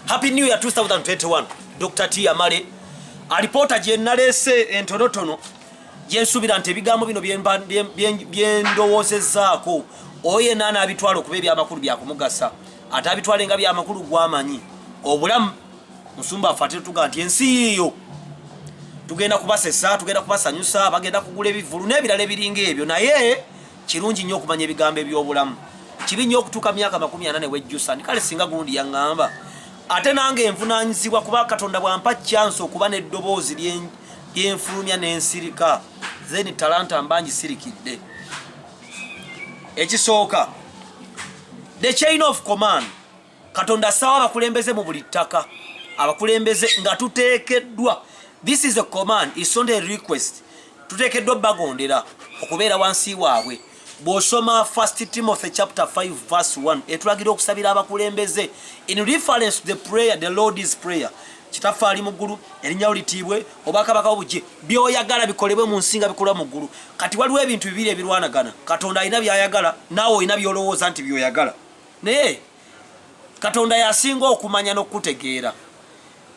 Happy New Year 2021. Dr. T Amale alipoota gye naleese entonotono gye nsuubira nti ebigambo bino bye ndowoozezaako oyo yenna anaabitwala okuba ebyamakulu byakumugasa ate abitwale nga byamakulu gwamanyi obulamu musumba afe ate tuga nti ensi yiyo tugenda kubasesa tugenda kubasanyusa bagenda kugula ebivulu n'ebirala ebiringa ebyo naye Kirungi nnyo okumanya ebigambo eby'obulamu. Kibi nnyo okutuuka myaka makumi ana ne wejjusa nti kale singa gundi yaŋŋamba. Ate nange envunaanyizibwa kuba Katonda bw'ampa kyansi okuba n'eddoboozi lyenfulumya n'ensirika zeni talanta mba ngisirikidde. Ekisooka, the chain of command. katonda assawo abakulembeze mu buli ttaka abakulembeze nga tuteekeddwa this is a command is not a request tuteekeddwa bagondera okubeera wansi waabwe bw'osoma first timothy chapter 5 verse 1 etulagira okusabira abakulembeze in reference to the prayer the lord is prayer kitaffe ali mu ggulu erinnya wo litiibwe obwakabaka obugye byoyagala bikolebwe mu nsi nga bikolwa mu ggulu kati waliwo ebintu bibiri ebirwanagana katonda alina byayagala naawe olina byolowooza nti byoyagala naye katonda yasinga okumanya n'okukutegeera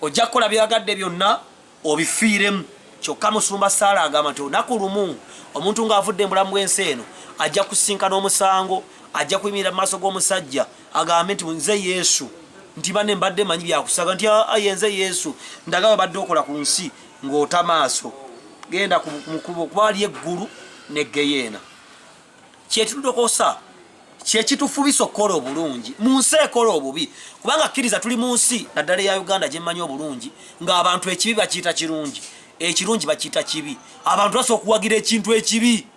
ojja kukola byoyagadde byonna obifiiremu kyokka musumba saala agamba nti olunaku lumu omuntu ng'avudde mu bulamu bw'ensi eno ajja kusinkana omusango ajja kuyimirira mu maaso g'omusajja agambe nti nze yesu nti bane mbadde manyi byakusaga nti aye ah, ah, nze yesu ndaga webadde okola ku nsi ng'ota maaso genda mukubo kuba ali eggulu ne geyeena kyetudokosa kyekitufubisa okukola obulungi mu nsi ekola obubi kubanga kkiriza tuli mu nsi naddala eya uganda gyemmanyi obulungi ng'abantu ekibi bakiyita kirungi ekirungi bakiyita kibi abantu basa okuwagira ekintu ekibi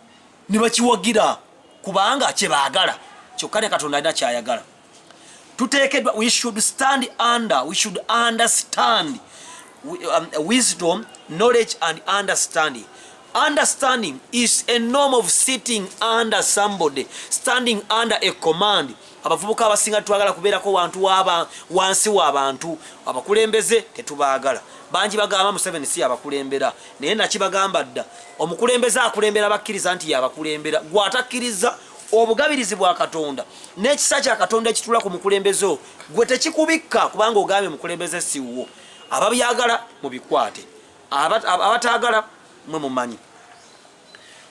ne bakiwagira kubanga kye baagala kyokka ne katonda alina kyayagala tuteekedwa we should stand under we should understand um, wisdom knowledge and understanding understanding is a norm of sitting under somebody standing under a command abavubuka abasinga twagala kubeerako wantu waba wansi wabantu abakulembeze tetubaagala bangi bagamba museveni si yabakulembera naye nakibagamba dda omukulembeze akulembera bakkiriza nti yabakulembera gwe atakkiriza obugabirizi bwa katonda n'ekisa kya katonda ekitula ku mukulembeze o gwe tekikubikka kubanga ogambye mukulembeze siwuwo ababyagala mubikwate abataagala mwe mumanyi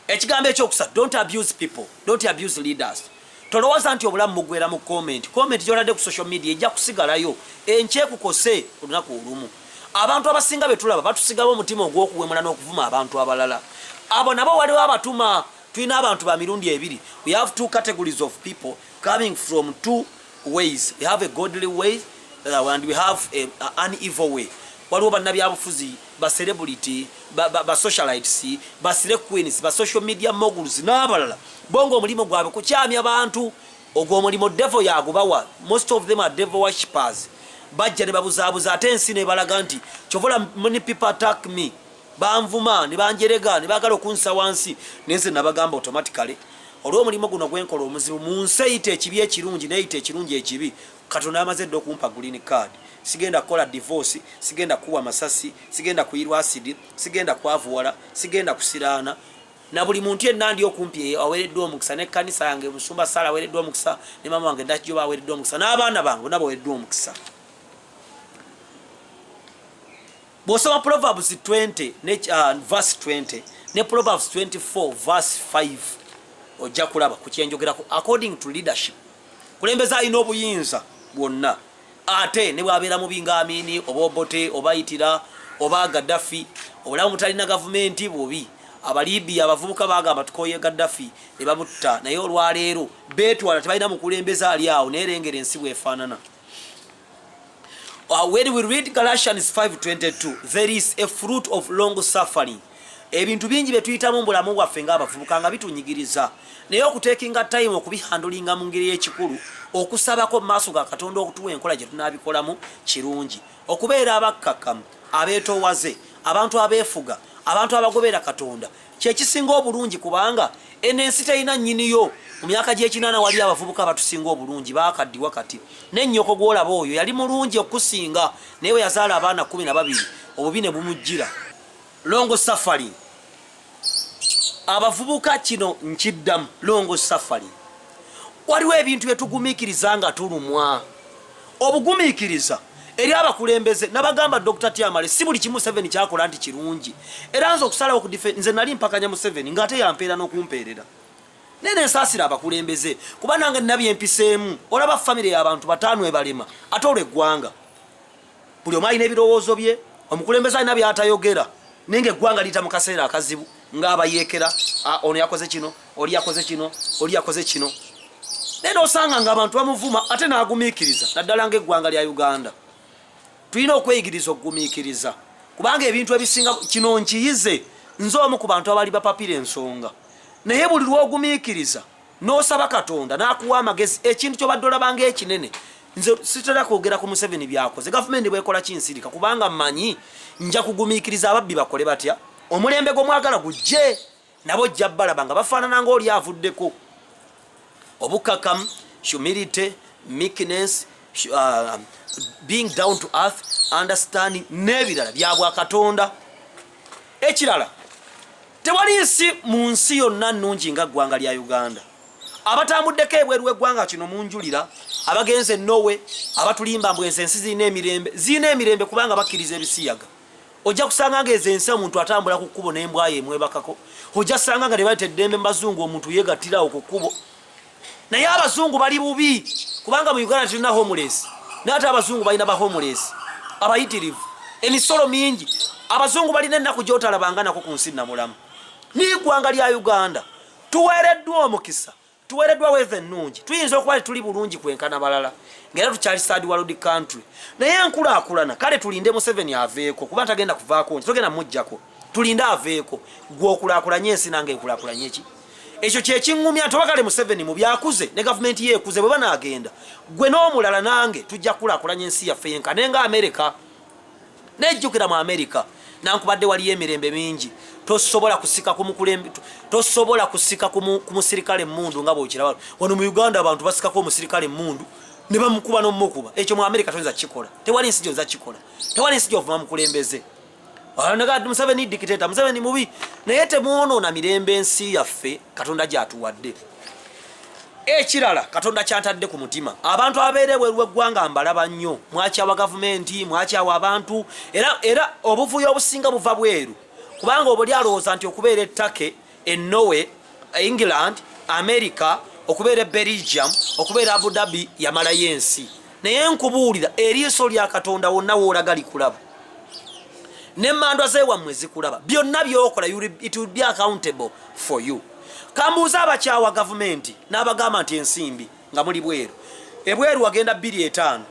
ekigambo ekyokusa don't abuse people don't abuse leaders tolowooza nti obulamu mugwera mu comment comment gyolade ku social media ejja kusigalayo enkyekukose olunaku olumu abantu abasinga betulaba batusigawo omutima ogw'okuwemula n'okuvuma abantu abalala abo nabo waliwo abatuma tulina abantu ba mirundi ebiri we have two categories of people coming from two ways we have a godly way uh, and we have a, a, an evil way waliwo bannabyabufuzi ba celebrity ba, ba, ba socialites ba sire queens ba social media moguls n'abalala bonga omulimu gwabwe kukyamya bantu ogwo omulimu devo yagubawa most of them are devo worshippers bajja ne babuzaabuza ate ensi nebalaga nti kyovola many people attack me banvuma ne banjerega ne baagala okunsa wansi naye nze nabagamba automatically olw'omulimu guno gwenkola omuzibu mu nsi eyita ekibi ekirungi neyita ekirungi ekibi katonda amaze dda okumpa green card sigenda kukola divorce sigenda kuwa masasi sigenda kuyirwa asidi sigenda kwavuwala sigenda kusiraana na buli muntu yenna ndi okumpi eyo aweereddwa omukisa n'ekkanisa yange musumba saala aweereddwa omukisa ne maama wange dakijoba aweereddwa omukisa n'abaana bange nabo aweereddwa omukisa bw'osoma proverbs 20 ne uh, verse 20 ne proverbs 24 verse 5 ojja kulaba ku kyenjogerako according to leadership kulembeza alina obuyinza bwonna ate ne bwabeera mu bingaamini oba obote oba itira oba gaddafi obulamu butalina gavumenti bubi abalibiya abavubuka bagamba tukoye gaddafi ne babutta naye olwaleero beetwala tebalina mukulembeza ali awo naye lengera ensi bwefaanana Uh, when we read Galatians 5:22, there is a fruit of long suffering. Ebintu bingi bye tuyitamu bulamu bwaffe ng'abavubuka nga bitunyigiriza naye okuteekinga time okubihandulinga mu ngeri y'ekikulu okusabako mu maaso ga Katonda okutuwa enkola gye tunaabikolamu kirungi. Okubeera abakkakkamu, abeetoowaze, abantu abeefuga, abantu abagobeera Katonda kyekisinga obulungi kubanga eno ensi terina nyiniyo mu myaka gy'ekinaana wali abavubuka abatusinga obulungi bakaddiwa kati ne nnyoko gw'olaba oyo yali mulungi okusinga naye bwe yazaala abaana kumi na babiri obubi ne bumujjira longo safari abavubuka kino nkiddamu longo safari waliwo ebintu bye tugumikiriza nga tulumwa obugumikiriza eri abakulembeze nabagamba dr tiamale si buli kimu seven kyakola nti kirungi era nze okusalawo kudife nze nali mpakanya mu seven nga ate yampeera n'okumpeerera naye nensaasira abakulembeze kuba nange nabye empiseemu olaba famire y'abantu bataano ebalema ate olweggwanga buli omu alina ebirowoozo bye omukulembeze alina byatayogera naye nga eggwanga liyita mu kaseera akazibu ng'abayeekera ah, ono yakoze kino oli yakoze kino oli yakoze kino naye nosanga nga abantu bamuvuma ate n'agumiikiriza naddala ng'eggwanga lya uganda tulina okweyigiriza okugumiikiriza kubanga ebintu ebisinga kino nkiyize nze omu ku bantu abali bapapira ensonga naye buli lwogumiikiriza n'osaba katonda n'akuwa amagezi ekintu kyobadde olabanga ekinene nze sitera kwogera ku museveni byakoze gavumenti bwekola kinsirika kubanga manyi nja kugumiikiriza ababbi bakole batya omulembe gwomwagala gujje nabo jja balaba nga bafaanana ngaoli avuddeko obukkakamu humility meekness uh, being down to earth understanding n'ebirala byabwa katonda ekirala Tewali nsi mu nsi yonna nnungi nga ggwanga lya Uganda. Abatambuddeko ebweru w'eggwanga kino munjulira, abagenze e Norway, abatulimba mbu ezo ensi zirina emirembe. Zirina emirembe kubanga bakkiriza ebisiyaga. Ojja kusanga nga ezo ensi omuntu atambula ku kkubo n'embwayo emwebakako. Ojja kusanga nga tebaleta eddembe mu bazungu omuntu yeegattirawo ku kkubo. naye abazungu bali bubi kubanga mu uganda tulina homeless naye ate abazungu balina ba homeless abayitirivu emisolo mingi abazungu balina ennaku gyotalabanga nako ku nsi namulamu n'igwanga lya uganda tuweereddwa omukisa tuweereddwa weeva ennungi tuyinza okuba tetuli bulungi kwenkana balala ngaera tukyali sad world country naye enkulaakulana kale tulinde museveni aveeko kuba tagenda kuvaako nti togenda mujjako tulinde aveeko gwe okulaakulanye ensi nange ekulaakulanye ki ekyo kyekiŋumya nti oba kale museveni mubyakuze ne gavumenti yeekuze bwe banaagenda gwe n'omulala nange tujja kukulakulanya ensi yaffe yenka naye nga amerika nejjukira mu amerika nankubadde waliyo emirembe mingi tosobola kusika kumukulembe tosobola kusika ku musirikale emundu nga bwokiraba wano mu uganda abantu basikako omusirikale emundu ne bamukuba n'omukuba ekyo mu amerika toyinza kukikola tewali nsi gyonza kikola tewali nsi gyovuma mukulembeze museveni dikiteta museveni mubi naye temwonoona mirembe ensi yaffe katonda gyatuwadde ekirala katonda kyantadde ku mutima abantu abeere bweru eggwanga mbalaba nnyo mwakyawa gavumenti mwakyawa abantu era era obuvuyo obusinga buva bweru kubanga obuli alowooza nti okubeera ettake e Norway, England, America, okubeera e Belgium, okubeera Abu Dhabi yamalayo ensi. Naye nkubuulira eriiso lya Katonda wonna woolaga likulaba. Ne mandwa zeewammwe zikulaba. Byonna byokola it will be accountable for you. Kambuuza abakyawa gavumenti n'abagamba nti ensimbi nga muli bweru. Ebweru wagenda bbiri etaano.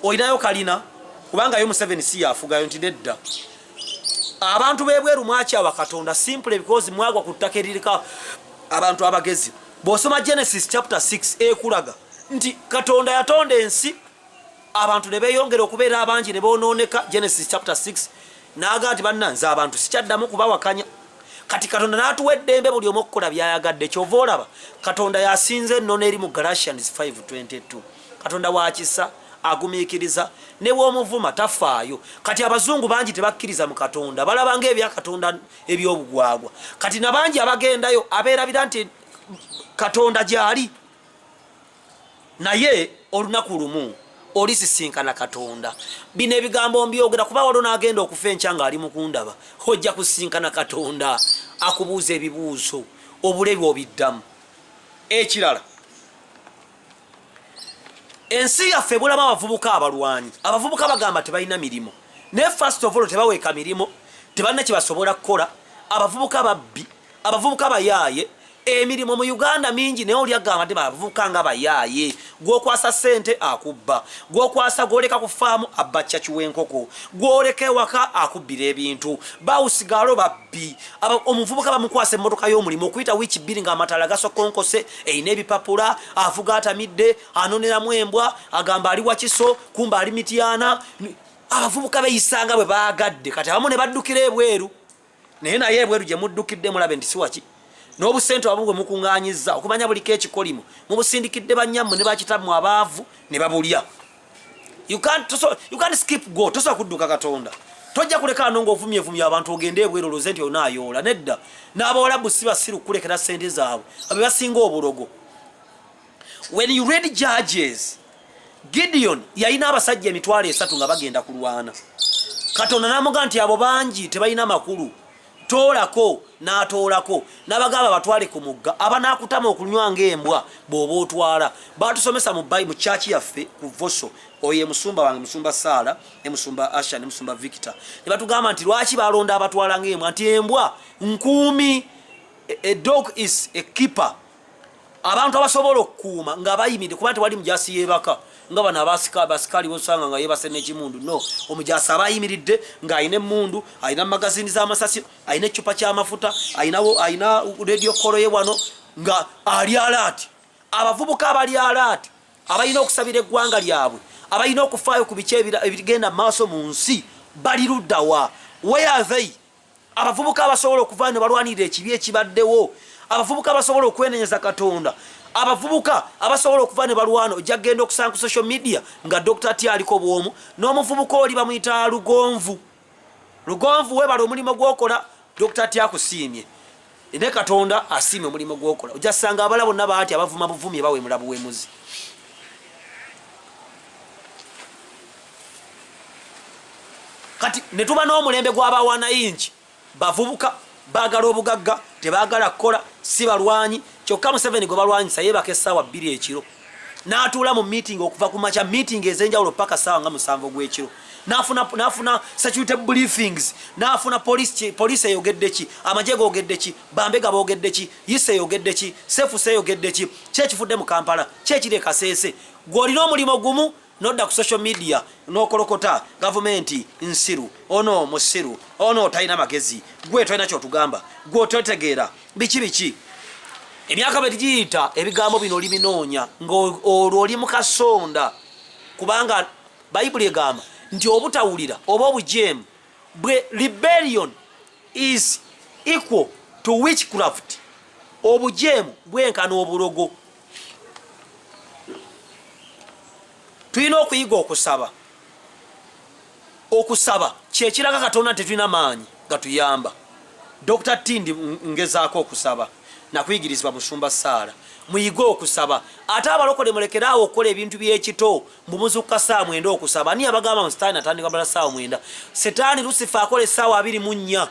Olinayo kalina kubanga yo Museveni si yafugayo nti nedda. abantu bebweru mwakyawa katonda simple because mwagwa ku ttaka eririka abantu abagezi bwosoma genesis chapter 6 ekulaga nti katonda yatonda ensi abantu ne beyongera okubeera abangi ne bonooneka genesis chapter 6 naaga nti banna nze abantu sikyaddamu kubawakanya kati katonda n'atuwa eddembe buli omu okukola byayagadde kyova olaba katonda yasinza ennono eri mu galatians 522 katonda wakisa agumikiriza newomuvuma tafaayo kati abazungu bangi tebakkiriza mu katonda balaba nga ebyakatonda ebyobugwagwa kati nabangi abagendayo abeerabira nti katonda gyali naye olunaku lumu olisisinkana katonda bino ebigambo mbyogera kuba waliwo nagenda okufa enkya nga ali mukundaba ojja kusisinkana katonda akubuuza ebibuuzo obulebi obiddamu ekirala ensi yaffe ebulamu abavubuka abalwanyi abavubuka bagamba tebalina mirimu naye first of all tebaweeka mirimu tebalina kyebasobola kukola abavubuka babbi abavubuka bayaaye emirimu mu uganda mingi naye oli agamba te bavubuka nga bayaaye gwokwasa sente akubba gwokwasa gwoleka ku faamu abba caki w'enkoko gwoleka ewaka akubbira ebintu bawusigaalo babbi omuvubuka bamukwasa emmotoka y'omulimu okuyita wiiki bbiri ng'amataala gasokonkose erina ebipapula avuga atamidde anoneramu embwa agamba ali wakiso kumba ali mityana abavubuka beyisanga bwe baagadde kati abamu ne baddukira ebweru naye naye ebweru gye muddukidde mulabe nti siwaki n'obusente abamu bwe mukuŋŋanyiza okumanya buliko ekikolimu mubusindikidde bannyammwe ne bakitammwe abaavu ne babulya you can't so you can't skip go tosa kuduka katonda tojja kuleka ano ng'ovumye vumye abantu ogende ebweru oloze nti olina ayoola nedda n'abawalabu si basiru kukulekera ssente zaabwe abe basinga obulogo when you read judges gideon yalina abasajja emitwalo esatu nga bagenda kulwana katonda namuga nti abo bangi tebalina makulu toolako n'atoolako n'abagamba batwale ku mugga abanaakutama okunywa ng'embwa bw'oba otwala baatusomesa mu bayi mu kyaki yaffe ku voso oyo emusumba wange musumba saala ne musumba asha ne musumba victor ne batugamba nti lwaki balonda abatwala ng'embwa nti embwa nkuumi a dog is a keeper abantu abasobola okukuuma nga bayimide kuba tewali mujasi yebaka nga bano abasikali bosanga nga yebase nekimundu no omujasi aba ayimiridde nga alina emundu alina magazini zamasasi alina ecupa kyamafuta alina radio koloye wano nga ali alaati abavubuka abali alaati abalina okusabira eggwanga lyabwe abalina okufaayo ku biki ebigenda maaso mu nsi bali luddawa weyathe abavubuka abasobola okuvaayo ne balwanirira ekibi ekibaddewo abavubuka abasobola okwenenyeza katonda abavubuka abasobola okuva ne balwana ojja kugenda okusanga ku social media nga dokita ti aliko bwomu n'omuvubuka oli bamuyita lugonvu lugonvu webala omulimu gwokola dokita ti akusiimye ne katonda asiima omulimu gwokola ojja sanga abala bonna baati abavuma buvumi ebawemula buwemuzi kati ne tuba n'omulembe gw'abawanayingi bavubuka baagala obugagga tebaagala kukola si balwanyi kyokka museveni gwe balwanyisa yeebaka essaawa bbiri ekiro n'atuula mu miitingi okuva ku makya miitingi ez'enjawulo paka ssaawa nga musanvu ogw'ekiro nafuna nafuna security briefings nafuna police chi police eyogedde ki amaje gogedde ki bambe gabogedde ki yise yogedde ki sefu se yogedde ki kye kifudde mu Kampala kye kire kasese gwoli no mulimo gumu nodda ku social media nokolokota gavumenti nsiru ono musiru ono talina magezi gwe tolina kyotugamba gwe ototegeera biki biki emyaka bwe tugiyita ebigambo bino oli binoonya ng'olwo oli mu kasonda kubanga Bayibuli egamba nti obutawulira oba obujeemu bwe rebellion is equal to witchcraft obujeemu bwenkana obulogo tulina okuyiga okusaba okusaba kyekiraga katonda nti tulina maanyi gatuyamba dr tindi ngezaako okusaba nakuyigirizibwa musumba saala muyige okusaba ate abalokole mulekeraawo okukola ebintu byekito mbubuzuka saa mwenda okusaba ani abagamba mu sitaani atandika bala saawa mwenda sitaani lusifa akola esaawa abiri mu nnya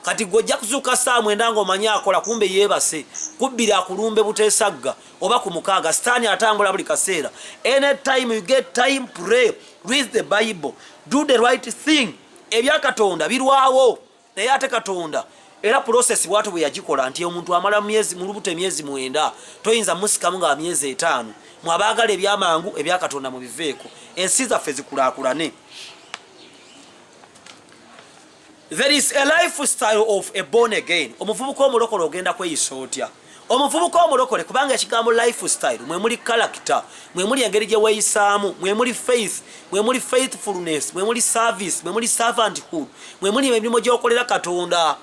kati gwe ojja kuzuuka saawa mwenda nga omanyi akola kumbe yeebase kubbiri akulumbe buteesagga oba ku mukaaga sitaani atambula buli kaseera any time you get time pray read the bible do the right thing ebyakatonda birwawo naye ate katonda era pulosesi bwatu bwe yagikola nti omuntu amala myezi mu lubuto emyezi mwenda toyinza musikamu nga myezi etaano mwabaagala ebyamangu ebyakatonda mu biveeko ensi zaffe zikulaakulane there is a life style of a born again omuvubuka omulokole ogenda kweyisa otya omuvubuka omulokole kubanga ekigambo life style mwe muli character mwe muli engeri gye weeyisaamu mwe muli faith mwe muli faithfulness mwe muli service mwe muli servanthood mwe muli emirimu gy'okolera katonda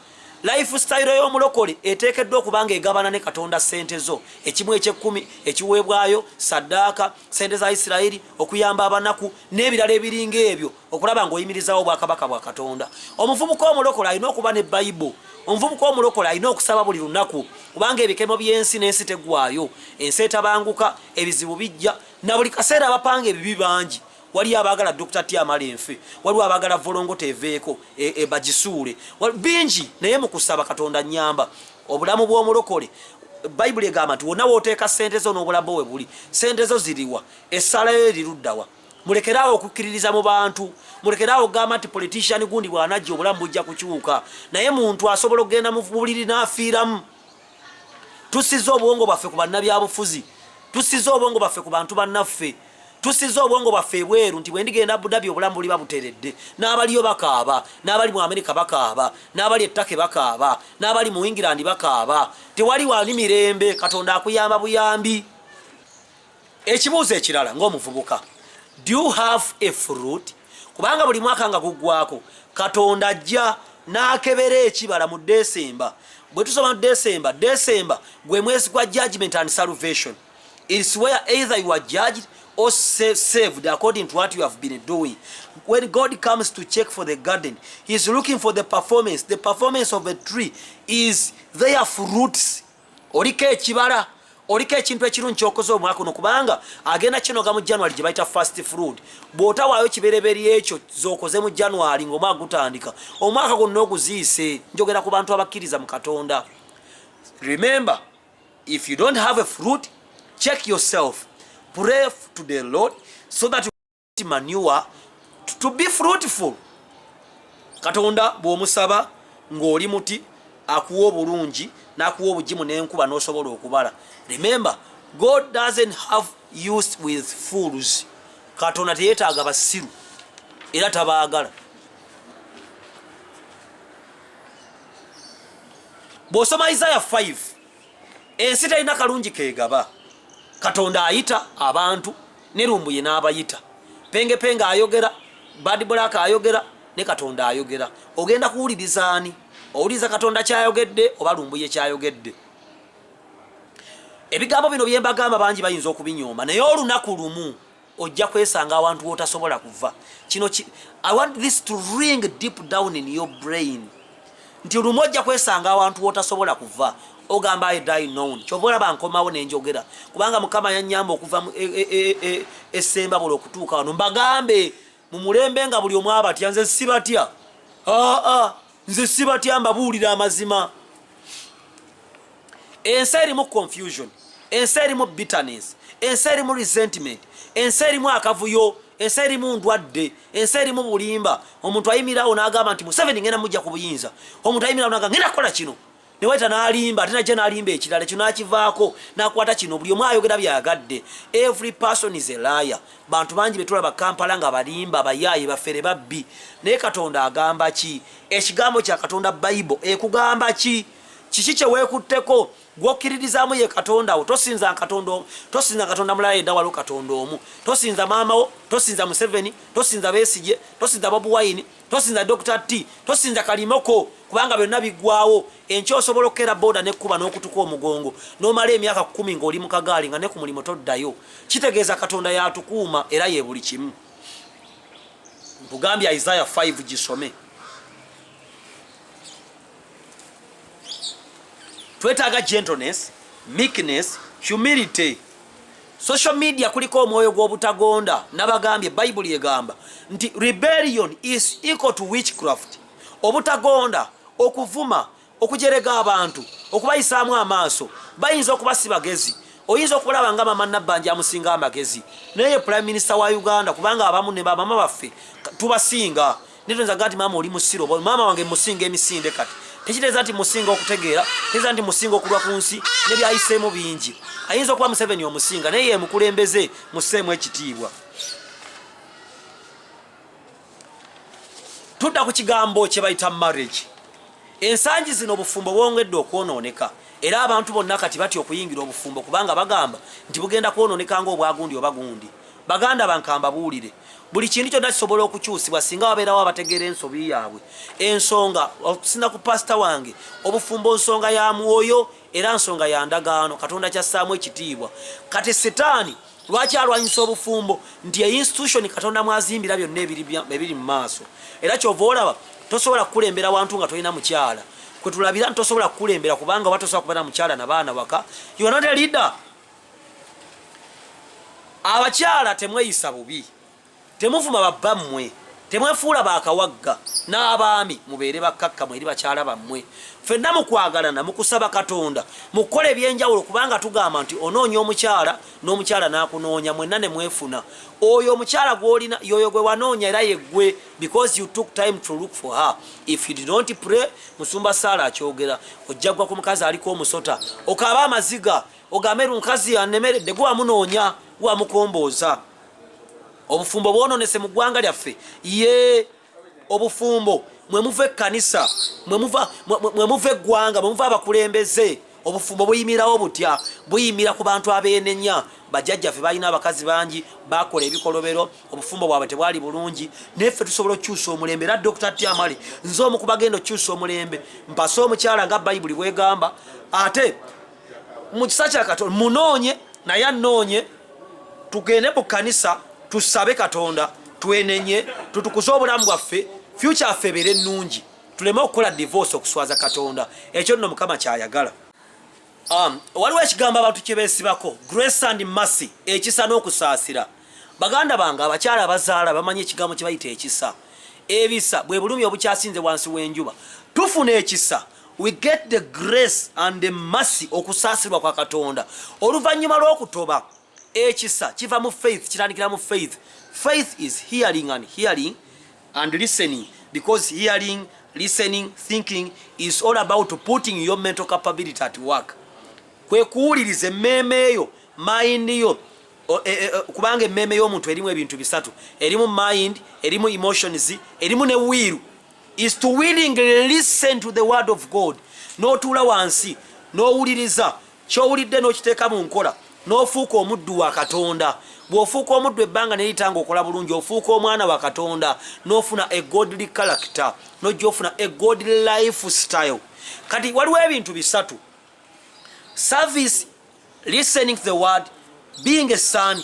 life style y'omulokole eteekeddwa okuba nga egabana ne katonda sente zo ekimu ekyekkumi ekiweebwayo saddaaka sente za isirayiri okuyamba abanaku n'ebirala ebiringa ebyo okulaba ng'oyimirizaawo obwakabaka bwa katonda omuvubuka omulokola alina okuba ne bayibo omuvubuka omulokola alina okusaba buli lunaku kubanga ebikemo by'ensi n'ensi tegwayo ensi etabanguka ebizibu bijja na buli kaseera abapanga ebibi bangi waliyo abaagala dr tiamala enfe waliwo abaagala volongoto eveeko e, e, bagisuule bingi naye mu kusaba katonda nyamba obulamu bw'omulokole bayibuli egamba nti wonna wooteeka ssente zo n'obulamu bwe buli ssente zo ziriwa essaala yo eriruddawa mulekeraawo okukkiririza mu bantu mulekeraawo okugamba nti politician gundi bwanajja obulamu bujja kukyuka naye muntu asobola okugenda mu buliri n'afiiramu tusiza obwongo bwaffe ku bannabyabufuzi tusiza obwongo bwaffe ku bantu bannaffe tusiza obwongo bwaffe ebweru nti bwendigenda abudabi obulamu buliba buteredde n'abaliyo bakaaba n'abali mu amerika bakaaba n'abali ettake bakaaba n'abali mu england bakaaba tewali wali mirembe katonda akuyamba buyambi ekibuuzo ekirala ng'omuvubuka do you have a fruit kubanga buli mwaka nga guggwako katonda ajja n'akebera ekibala mu desemba bwe tusoma mu desemba desemba gwe mwezi gwa judgment and salvation its where either you are judged or saved according to what you have been doing when god comes to check for the garden he is looking for the performance the performance of a tree is their fruits oliko ekibala oliko ekintu ekirungi kyokoze omwaka uno kubanga agenda kinoga mu january gye bayita fast fruid bw'otawaayo kibereberye ekyo zokoze mu january ng'omwaka gutandika omwaka gwonna oguziise njogera ku bantu abakkiriza mu katonda remember if you don't have a fruit check yourself pray to the lord so that manure to be fruitful katonda bwomusaba ng'oli muti akuwa obulungi n'akuwa obugimu n'enkuba n'osobola okubala remember god doesn't have used with fools katonda teyetaaga basiru era tabaagala bw'osoma isaya 5 ensi talina kalungi kegaba katonda ayita abantu ne lumbuye n'abayita penge penge ayogera bad black ayogera ne katonda ayogera ogenda kuwuliriza ani owuliriza katonda kyayogedde oba lumbuye kyayogedde ebigambo bino byembagamba bangi bayinza okubinyooma naye olunaku lumu ojja kwesanga awantu wotasobola kuva kino ki, i want this to ring deep down in your brain nti olumu ojja kwesanga awantu wotasobola kuva ogamba i die known kyova olaba nkomawo nenjogera kubanga mukama yanyamba okuva esemba e, e, e, buli okutuuka wano mbagambe mu mulembe nga buli omu abatya nze sibatya aa nze sibatya mbabuulira amazima ensi erimu confusion ensi erimu bitterness ensi erimu resentment ensi erimu akavuyo ensi erimu ndwadde ensi erimu bulimba omuntu ayimirawo nagamba nti museveni ngenda mujja ku buyinza omuntu ayimirawo naga ngenda kukola kino ne wayita n'alimba ate najja n'alimba ekirala ekyo n'akivaako n'akwata kino buli omu ayogera byagadde every person is a liar bantu bangi be tulaba kampala nga balimba bayaaye bafere babbi naye katonda agamba ki ekigambo kya katonda bayibo ekugamba ki kiki kye weekutteko gwokkiririzaamu ye katonda wo tosinza katonda omu tosinza katonda mulala yedda waliwo katonda omu tosinza maama wo tosinza museveni tosinza besigye tosinza bobuwayini tosinza dr t tosinza kalimoko kubanga byonna biggwawo enkya osobola okukeera booda nekkuba n'okutuka omugongo n'omala emyaka kumi ng'oli mu kagaali nga ne ku mulimu toddayo kitegeeza katonda yatukuuma era ye buli kimu nkugambye isaaya 5 gisome twetaaga gentleness meekness humility Social media kuliko omwoyo gw'obutagonda nabagambye bayibuli egamba nti rebellion is equal to witchcraft obutagonda okuvuma okujerega abantu okubayisaamu amaaso bayinza okuba si bagezi oyinza okulaba nga mama nabbanja amusinga amagezi naye prime minister wa uganda kubanga abamu ne bamama baffe tubasinga netoyinza gati maama oli musiru oba maama wange musinga emisinde kati tekiteeza nti musinga okutegeera teeza nti musinga okulwa ku nsi nebyayiseemu bingi ayinza okuba museveni omusinga naye yemukulembeze museemu ekitiibwa tudda ku kigambo kyebayita marriage ensangi zino obufumbo bwongedde okwonooneka era abantu bonna kati batya okuyingira obufumbo kubanga bagamba nti bugenda kwonooneka ngaobwagundi oba gundi baganda bankamba buwulire buli kintu kyonna kisobola okukyusibwa singa wabeerawo abategeera ensobi yaabwe ensonga okusina ku pasita wange obufumbo nsonga ya mwoyo era nsonga ya ndagaano katonda kyassaamu ekitiibwa kati sitaani lwaki alwanyisa obufumbo nti einstitution katonda mwazimbira byonna ebiri mu maaso era kyova olaba tosobola kukulembera wantu nga tolina mukyala kwetulabira nti tosobola kukulembera kubanga oba tosobola kubeera mukyala nabaana waka yonate leader abakyala temweyisa bubi temuvuma babbammwe temwefuula bakawagga n'abaami mubeere bakkakkamu eri bakyala bammwe fenna mukwagalana mukusaba katonda mukukola ebyenjawulo kubanga tugamba nti onoonya omukyala n'omukyala n'akunoonya mwenna ne mwefuna oyo omukyala gwolina yoyo gwe wanoonya era yeggwe because you took time to look for her if you did not pray musumba saala akyogera ojjagwa ku mukazi aliko omusota okaaba amaziga ogambe lunkazi yanemeredde gwe wamunoonya wamukombooza obufumbo bwononese mu ggwanga lyaffe ye obufumbo mwemuva ekkanisa mwemuva eggwanga mwemuva abakulembeze obufumbo buyimirawo butya buyimira ku bantu abeenenya bajajjaffe balina abakazi bangi bakola ebikolobero obufumbo bwabwe tebwali bulungi naye ffe tusobola okukyusa omulembe era dr tiamali nze omu kubagenda okukyusa omulembe mpase omukyala nga bayibuli bwegamba ate mu kisa kya katonda munoonye naye anoonye tugende mu kanisa tusabe katonda twenenye tutukuze obulamu bwaffe fyuca affe ebeere ennungi tuleme okukola divorce okuswaza katonda ekyo nno mukama kyayagala um, waliwo ekigambo abantu kyebesibako grace and massy ekisa n'okusaasira baganda bange abakyala abazaala bamanyi ekigambo kyebayita ekisa ebisa bwe bulumi obukyasinze wansi w'enjuba tufuna ekisa we get the grace and the mercy okusaasirwa kwa katonda oluvannyuma lw'okutoba ekisa kiva mu faith kitandikira mu faith faith is hearing and hearing and listening because hearing listening thinking is all about putting your mental capability at work kwe kuwuliriza emmeeme eyo mind yo e, e, e, kubanga emmeeme y'omuntu erimu ebintu bisatu erimu mind erimu emotions erimu ne wiiru is to willingly listen to the word of God n'otuula wansi n'owuliriza ky'owulidde n'okiteeka mu nkola n'ofuuka omuddu wa katonda bw'ofuuka omuddu ebbanga neritanga okola bulungi ofuuka omwana wa katonda n'ofuna a godly character n'ojja ofuna a godly life style kati waliwo ebintu bisatu service listening to the word being a son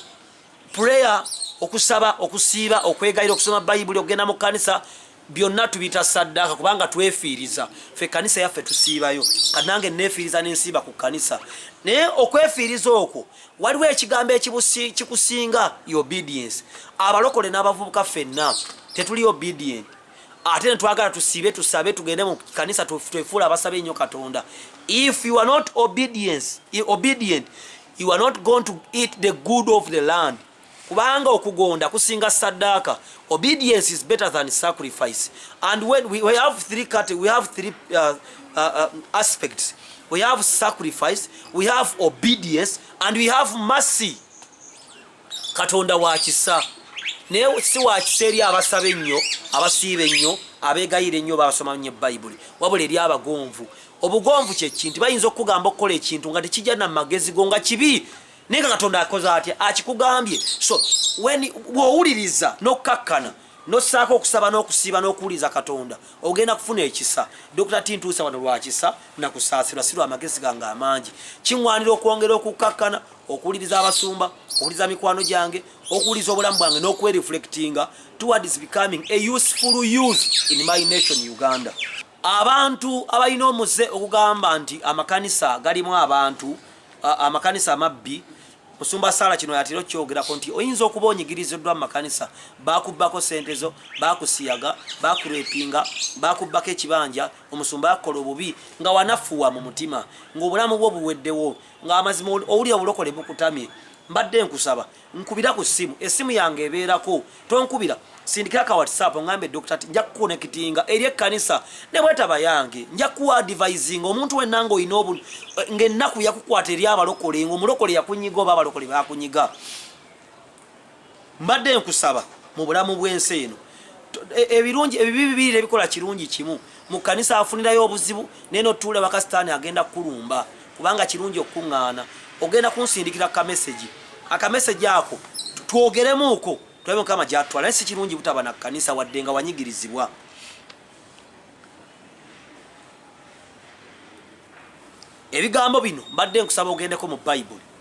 prayer okusaba okusiiba okwegayira okusoma bayibuli okugenda mu kanisa byonna tubita saddaaka kubanga twefiiriza fe kanisa yaffe tusiibayo kanange nefiiriza nensiiba ku kanisa naye okwefiiriza okwo waliwo ekigambo ekikusinga obedience abalokole n'abavubuka fenna tetuli obedient ate netwagala tusibe tusabe tugende mu kanisa twefuula abasabe ennyo katonda if you are not obedience, obedient you are not going to eat the good of the land kubanga okugonda kusinga saddaaka obedience is better than sacrifice and when we, we have three cut, we have three uh, uh, uh, aspects we have sacrifice we have obedience and we have mercy katonda wakisa naye si wakisa eri abasaba ennyo abasiiba ennyo abegayira ennyo basoma nyo bayibuli wabula eri abagonvu obugonvu kyekinti bayinza okukugamba okukola ekintu nga tekijja na magezi go nga kibi naye nga katonda akoze atya akikugambye so bwowuliriza nokukakkana nosaako okusaba n'okusiiba n'okuwuliriza katonda ogenda kufuna ekisa dokita tintuusa wano lwakisa nakusaasirwa si lwamagezi gange amangi kiŋwanira okwongera okukkakkana okuwuliriza abasumba okuwuliriza mikwano gyange okuwuliriza obulamu bwange n'okwereflectinga towards becoming a useful youth in my nation uganda abantu abalina omuze okugamba nti amakanisa galimu abantu amakanisa amabbi musumba sala kino yatera okyogerako nti oyinza okuba onyigiriziddwa mu makanisa bakubbako sente zo bakusiyaga bakurepinga bakubbako ekibanja omusumba yakukola obubi nga wanafuwa mu mutima ngaobulamu bwo buweddewo nga amazima owulira obulokole bukutamye mbadde nkusaba nkubira ku simu esimu yange ebeerako tonkubira sindikira ka whatsapp ngambe dokita ti nja kukonekitinga eri ekkanisa ne bwetaba yange nja kuwa advisinga omuntu wenna nga olina obu eh, ngaennaku yakukwata eri abalokole ngaomulokole yakunyiga oba abalokole bakunyiga mbadde nkusaba mu bulamu bw'ensi eno e, ebirungi ebibi bibiri ebikola kirungi kimu mu kkanisa afunirayo obuzibu naye notuula ewaka sitaani agenda kukulumba kubanga kirungi okukuŋŋaana ogenda kunsindikira kamesegi akamesegi ako twogeremuuko tulabe mukama gyatwala naye si kirungi butaba na kkanisa wadde nga wanyigirizibwa ebigambo bino mbadde nkusaba ogendeko mu bayibuli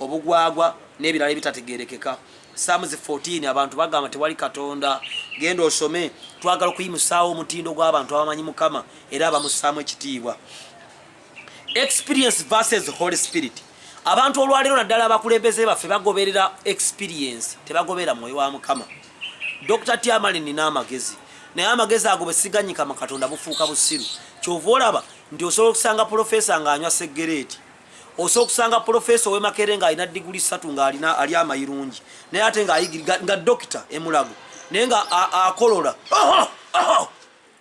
obugwagwa n'ebirala ebitategerekeka samuzi 14 abantu bagamba tewali katonda genda osome twagala okuyimusaawo omutindo gw'abantu abamanyi mukama era abamusaamu ekitiibwa experience versus holy spirit abantu olwaleero naddala abakulembeze baffe bagoberera experience tebagoberera mwoyo wa mukama dr tiamali nina amagezi naye amagezi ago bwesiganyika mu katonda bufuuka busiru kyova olaba nti osobola okusanga pulofesa ng'anywa seggereeti osa okusanga pulofeesa ow'e makerere ng'alina diguli ssatu ng'alina ali amayirungi naye ate ng'ayigirira nga dokita emulago naye nga akolola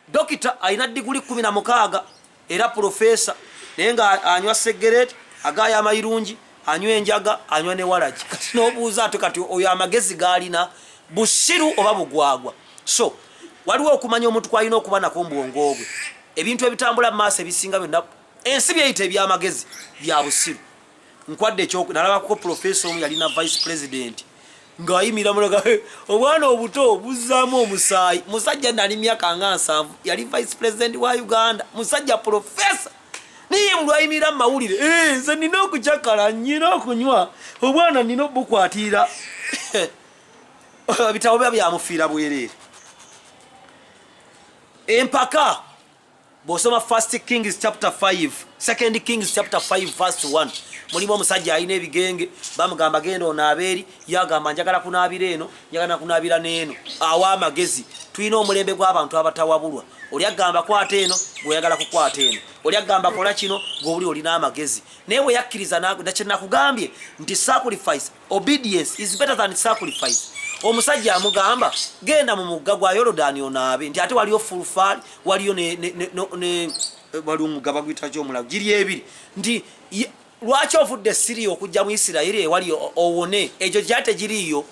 dokita alina diguli kumi na mukaaga era pulofeesa naye nga anywa segereti agaayo amayirungi anywa enjaga anywa ne walagi kati n'obuuza ate kati oyo amagezi gaalina busiru oba bugwagwa so waliwo okumanya omuntu kwalina okuba nako mu bwongo bwe ebintu ebitambula mu maaso ebisinga byonna ensi byeyita ebyamagezi bya busiru nkwadde ekyoku nalabako profesa omu yalina vice president ng'ayimira mulaga obwana obuto buzzaamu omusaayi musajja nali myaka nga nsanvu yali vice president wa uganda musajja profesa naye mulwayimira mu mawulire eh, nze nina okucakala nyina okunywa obwana nina obukwatirira bitabo biba byamufiira bwereere empaka bw'osoma first kings chapter 5 second kings chapter 5 verse 1 mulimu omusajja alina ebigenge bamugamba genda onaabeeri yagamba njagala kunaabira eno njagala nakunaabira n'eno awa amagezi tulina omulembe gw'abantu abatawabulwa oli agamba kwata eno gweoyagala kukwata eno oli agamba kola kino gweoli olina amagezi naye bwe yakkiriza nakyenakugambye nti sacrifice obedience is better than sacrifice omusajja amugamba genda mu mugga gwa yolodani onaabe nti ate waliyo fulfaali waliyo waliwo omugga baguyitaki omulago giri ebiri nti lwaki ovudde esiri okujja mu isirayiri ewali owone egyo gya tegiriiyo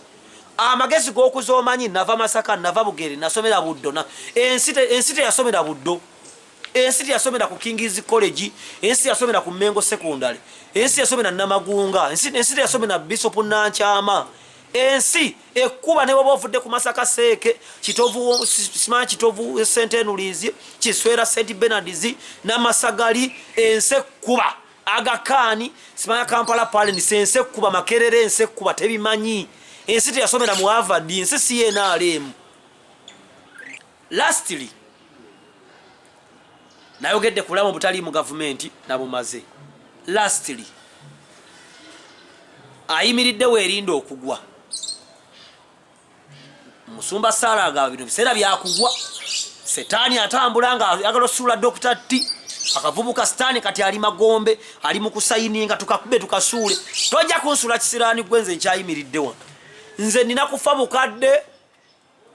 amagezi g'okuza omanyi nava masaka nava bugere nasomera buddo ensi teyasomera buddo ensi teyasomera ku kingis college ensi teyasomera ku mengo secondary ensi teyasomera namagunga ensi teyasomera bishop nankyama ensi ekuba ne baba ovudde ku masaka seeke kitovu sima kitovu sente enulinzi kiswera st benards namasagali ensi ekuba agakaani simaya kampala palens ensi ekuba makerere ensi ekuba tebimanyi ensi teyasomera mu avadi ensi siyenaalemu Lastly, nayogedde ku bulamu obutali mu gavumenti nabumaze. Lastly, ayimiridde weerinda okugwa. Musumba Saala nga bino biseera byakugwa, setaani atambula nga ayagala osuula Dokita T akavubuka sitaani kati ali magombe ali mu kusayininga tukakube tukasuule tojja kunsula kisiraani gwe nze nkyayimiridde wano nze nina kufa bukadde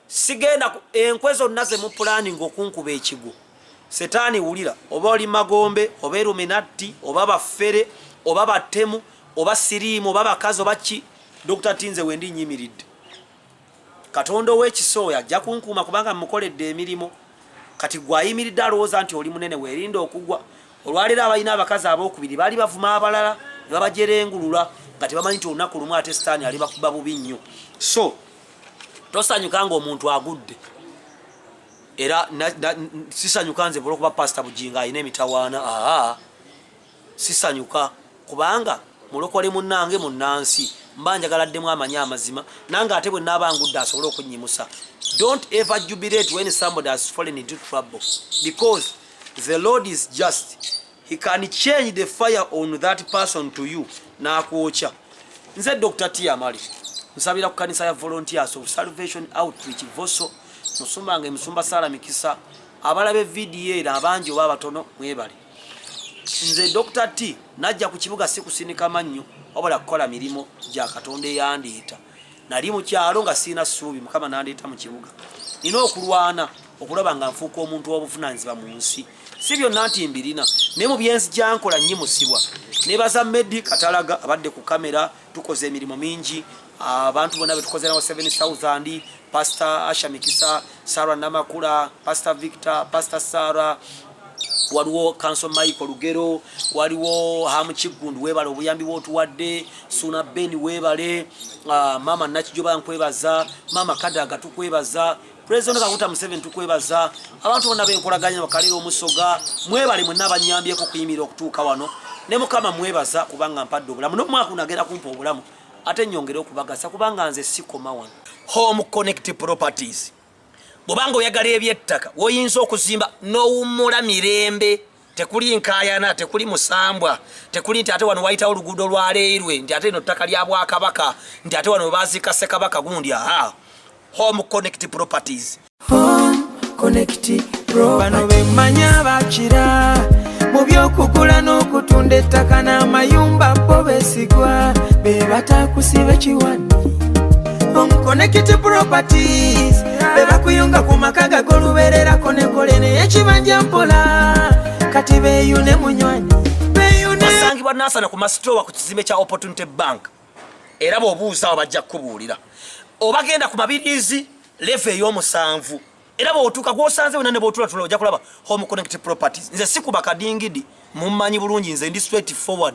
sigenda enkwe zonna zemupulaninga okunkuba ekigwo setaani wulira oba oli magombe oba eruminatti oba baffere oba battemu oba siriimu oba bakazi oba ki dokita tinze wendi nyimiridde katonda ow'ekisa oyo ajja kunkuuma kubanga mukoledde emirimu kati gwayimiridde alowooza nti oli munene weerinda okugwa olwaleero abalina abakazi abokubiri baali bavuma abalala ne babajerengulula nga tebamanyi nti olunaku lumu ate sitaani alibakuba bubi nnyo so tosanyuka nga omuntu agudde era sisanyuka nze olwokuba pasita bujingo alina emitawaana aa sisanyuka kubanga mulokole munange munansi mba njagala ddemu amanyi amazima nange ate bwe naaba ngudde asobole okunyimusa don't ever jubilate when somebody has fallen into trouble because the lord is just he can change the fire on that person to you nakwokya nze dr tiamali nsabira ku kanisa ya volunteers of salvation outreach voso musumbange musumba sala mikisa abalabe vidiyo era abangi oba abatono mwebale nze dr t najja ku kibuga sikusinika mannyo wabula kukola mirimu gya katonda eyandiita nali mu kyalo nga sirina ssuubi mukama nandeeta mu kibuga nina okulwana okulaba nga nfuuka omuntu w'obuvunaanyizibwa mu nsi si byonna nti mbirina naye mu byensi gyankola nnyimusibwa nebaza medi katalaga abadde ku kamera tukoze emirimu mingi abantu bona betukozerawo 7000 pastor asha mikisa sarah namakula pastor victor pastor sarah waliwo kanso michael lugero waliwo hamu kiggundu webale obuyambi bwotuwadde suna ben webale uh, mama nakijoba nkwebaza mama kadaga tukwebaza president kakuta museveni tukwebaza abantu bonna benkolaganya bakalera omusoga mwebale mwena abanyambyeko okuyimira okutuuka wano ne mukama mwebaza kubanga mpadde obulamu nomwaka unagenda kumpa obulamu ate nyongere okubagasa kubanga nze sikoma wano home connect properties bwobanga oyagala ebyettaka woyinza okuzimba nowummula mirembe tekuli nkayana tekuli musambwa tekuli nti ate wano wayitawo oluguudo lwaleirwe nti ate eno ttaka lya bwakabaka nti ate wano webaziika ssekabaka gundi aha home connect properties home connect properties. bano bemanya bakira mu by'okugula n'okutunda ettaka n'amayumba bo besigwa be batakusiba ekiwani omukonekiti properties be bakuyunga ku maka gagolubererako nekole naye ekibanja mpola kati beyune munywanyi basangibwa nasana ku masitowa ku kizimbe kya opportunity bank era bwobuuzaawo bajja kukubuulira obagenda ku mabiriizi leva ey'omusanvu era bwotuuka gwosanze wena nebwotulatula ojja kulaba home connect properties nze sikuba kadingidi mummanyi bulungi nze ndi straight forward